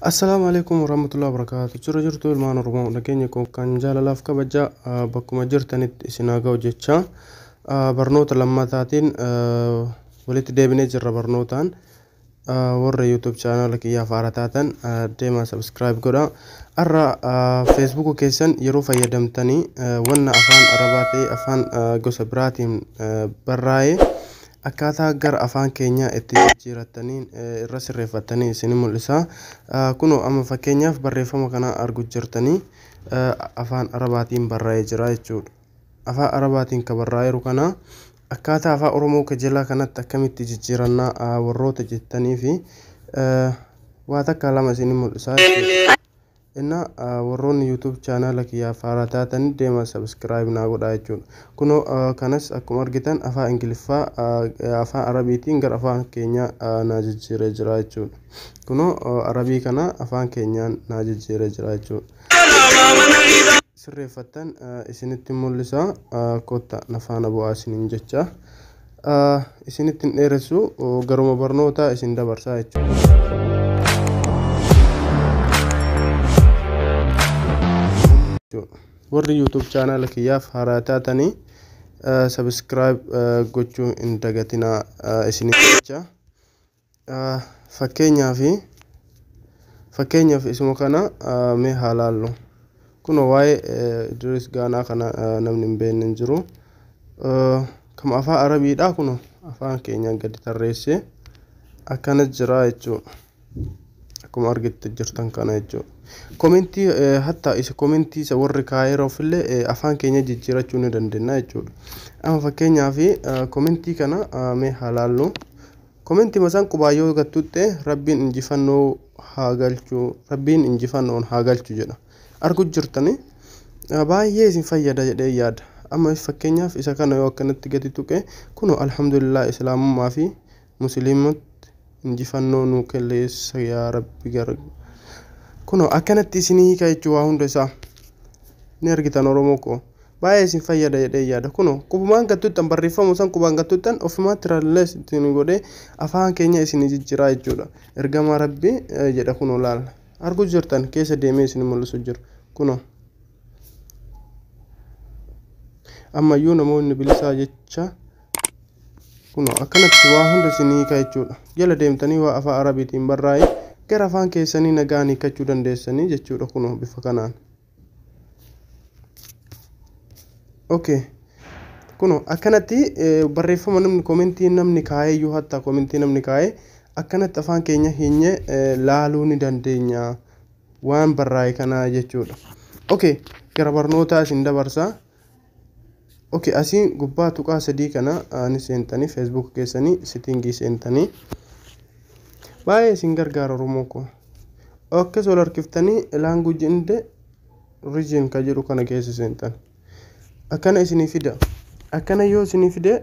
Assalaamu alaikum warahmatullahi wabarakaatu. Jira jirtu ilmaan Oromoo nageenya koo kan jaalalaaf kabaja ah, bakkuma jirtanitti isin haa ga'u jecha ah, barnoota lammataatiin ah, walitti deebinee jirra barnootaan ah, warra YouTube chaanaala kiyyaaf haara taatan ah, deemaa subscribe godha. Har'a ah, Facebook keessan yeroo fayyadamtanii ah, wanna afaan Arabaa ta'e afaan ah, gosa biraatiin ah, barraa'ee Akkaataa gara afaan keenyaa itti jijjiirattaniin irra sirreeffattanii isin mul'isa. Kunoo amma fakkeenyaaf barreeffama kana argu jirtanii afaan arabaatiin barraa'ee jira jechuudha. Afaan arabaatiin ka barraa'eeru kana akkaataa afaan oromoo kajelaa kanatti akkamitti jijjiirannaa warroota jettanii fi waa takka lama isin mul'isaa jechuudha. Enna warroonni YouTube channel kiyyaaf haaraa taatani deema subscribe naa godhaa jechuudha. Kunoo kanas akkuma argitan afaa Ingiliffaa afaan Arabiitiin gara afaan keenyaa naa jijjiiree jira jechuudha. Kunoo Arabii kana afaan keenyaan naa jijjiiree jira jechuudha. Sirreeffattan isinitti mul'isa kotta na faana bu'aa isiniin jecha. isinitti hin dheeressu garuma barnootaa isin dabarsaa jechuudha. Warri YouTube chaanaala kiyyaaf haaraa taatanii sabiskiraayib gochuu hin dagatinaa isinitti jecha. Fakkeenyaaf Fakkeenyaaf isuma kana mee haa laallu. Kunoo waa'ee Idris Gaanaa kana namni hin beekne hin jiru. Kama afaan Arabiidhaa kunoo afaan keenyaan gadi tarreessee akkana jira jechuudha. Akkuma argitu jirtan kana jechuudha. Komentii hatta isa komentii isa warri kaayiroof illee afaan keenya jijjiirachuu ni dandeenya jechuudha. Amma fakkeenyaaf komentii kana mee haa laallu. Komentima san qubaa yoo gattutte rabbiin injifannoo haa galchu rabbiin injifannoon haa galchu jedha argu jirtani baay'ee isin fayyada jedhee yaada amma fakkeenyaaf isa kana yoo akkanatti gadi tuqe kuno alhamdulillah islaamummaa fi musliimatti injifannoo nuu kelleessa yaa rabbi gara kuno akkanatti isinii hiika jechuu waa hunda isaa ni argitan oromoo koo baay'ee isin fayyada jedhee yaada kuno qubumaan gattuuttan barreeffamu san qubaan gattuuttan ofumaa tirallees ittiin godhee afaan keenya isin jijjiraa jechuudha ergamaa rabbi jedha kuno laal arguu jirtan keessa deemee isin mul'isu jiru kuno ammayyuu namoonni bilisaa jecha kuno akkanatti waa hunda isin hiika jechuudha jala deemtanii waa afaa arabiitiin barraa'ee gara afaan keessanii nagaan hiikachuu dandeessanii jechuudha kuno bifa kanaan. okay kuno akkanatti eh, barreeffama namni komentii namni kaa'ee iyyuu hatta komentii namni kaa'ee akkanatti afaan keenya hinyee eh, laaluu ni dandeenya waan barraa'e kanaa jechuudha okay gara barnootaa isin dabarsaa Okay asii gubbaa tuqaa sadii kana ni seentanii Facebook keessanii sittingii seentanii baay'ee isin gargaara Oromoo koo. Akkas ol harkiftanii language inde region ka jedhu kana keessa seentan. Akkana isinii fida. Akkana yoo isinii fide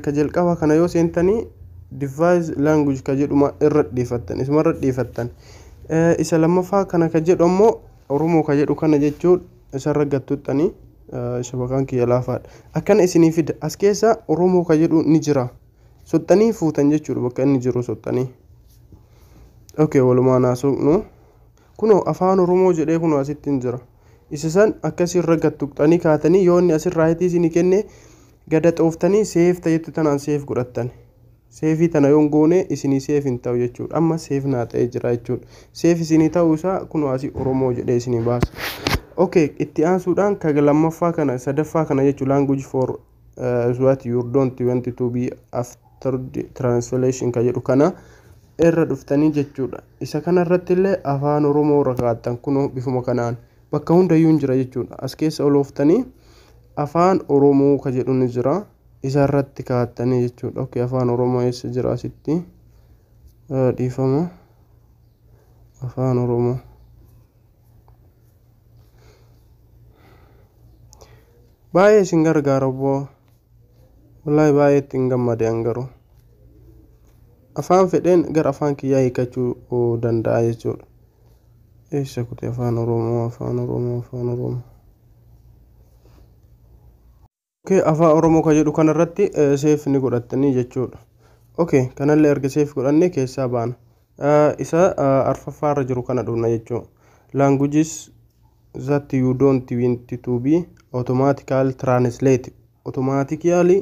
ka jalqabaa kana yoo seentanii device language ka jedhuma irra dhiifattan isuma irra dhiifattan. Isa lammaffaa kana ka jedhu ammoo Oromoo ka jedhu kana jechuudha. isarra gad tuttanii shabaqaan kiyya laafaadha. Akkana isinii fida as keessa Oromoo ka jedhu ni jira. Soxxanii fuutan jechuudha bakka inni jiru soxxanii. Okay walumaan haa soqnu. Kunoo afaan Oromoo jedhee kunoo asitti hin jira. Isa san akkasirra gad tuqxanii kaatanii yoo inni asirraa hitii isinii kenne gada xooftanii seef ta'etti tanaan seef godhattan. Save tana yoon goone isinii save hin ta'u jechuudha. Amma save naa ta'ee jira jechuudha. Save isinii ta'uu isaa kunoo asii Oromoo jedhee isinii baasa. Okay, itti aansuudhaan ka lammaffaa kana sadaffaa kana jechuun language for uh, is what you don't want to be after the translation ka jedhu kana irra dhuftanii jechuudha. Isa kana irratti illee afaan Oromoo irra kaa'attan kunoo bifuma kanaan bakka hundayyuu hin jira jechuudha. As keessa olooftanii afaan Oromoo ka jedhu ni jira. isa irratti kaa'attanii jechuudha ok afaan oromoo eessa jira asitti dhiifama afaan oromoo baay'ee isin gargaara obboo wallahi baay'ee ittiin gammade an garuu afaan fedheen gara afaan kiyyaa hiikachuu danda'a jechuudha eessa kute afaan oromoo afaan oromoo afaan oromoo Okay afaan oromoo ka jedhu kana irratti seef ni godhattanii jechuudha. Okay kanallee erga seef godhanne keessaa baana. Isa arfaffaa irra jiru kana dhufna jechuu. Languages that you don't want to be automatical translate automatically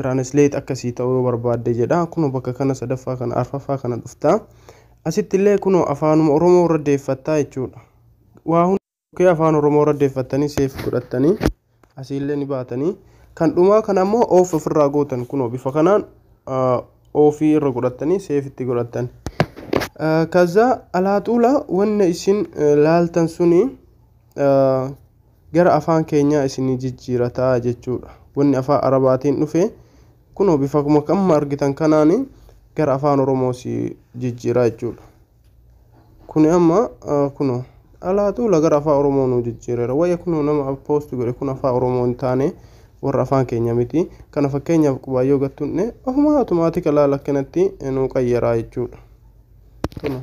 translate akkasii ta'uu yoo barbaadde jedha. Kunoo bakka kana sadaffaa kana arfaffaa kana dhufta. Asitti illee kunoo afaanuma oromoo irra deeffattaa jechuudha. Waa Bukkee Afaan Oromoo irra deeffattanii seef godhattanii asiillee ni baatanii kan dhumaa kana immoo oof ofirraa gootan kunoo bifa kanaan oofii irra godhattanii seef itti godhattan. Kaza alaaxuula wanna isin laaltan suni gara afaan keenyaa isinii jijjiirataa jechuudha. Wanni afaan arabaatiin dhufe kunoo bifa amma argitan kanaan gara afaan oromoo si jijjiiraa jechuudha. Kuni amma kunoo dhalaatu lagara afaa Oromoo nuu jijjiireera. Wayya kunoo nama poost godhe kun afaa Oromoo hin taane warra afaan keenya miti. Kana fakkeenyaaf qubaayyoo gattunne ofumaa automaatika laala akkanatti nuu qayyaraa jechuudha. Kunoo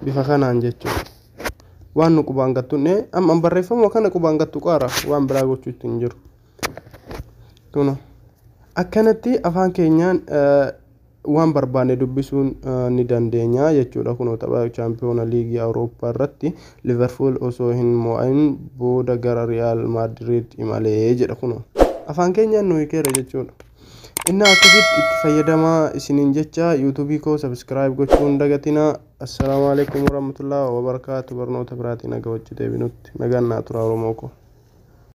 bifa kanaan jechuudha. Waan nu qubaan gattunne amma barreeffamuma kana qubaan gattu qaara waan biraa gochuu itti hin jiru. Kunoo akkanatti afaan keenyaan waan barbaanne dubbisuun ni dandeenya jechuudha. Kunoo tapha chaampiyoona liigii Awurooppaa irratti Liverpool osoo hin mo'ain booda gara Riyaal Maadiriid imalee jedha kunoo. Afaan keenyaan nu hikeera jechuudha. Innaa akkasitti itti fayyadamaa isiniin jecha yuutuubii koo sabiskiraayib gochuu hin dagatina. Assalaamu alaikum warahmatullahi wabarakaatu barnoota biraatiin naga wajji deebinutti nagaan naa turaa Oromoo koo.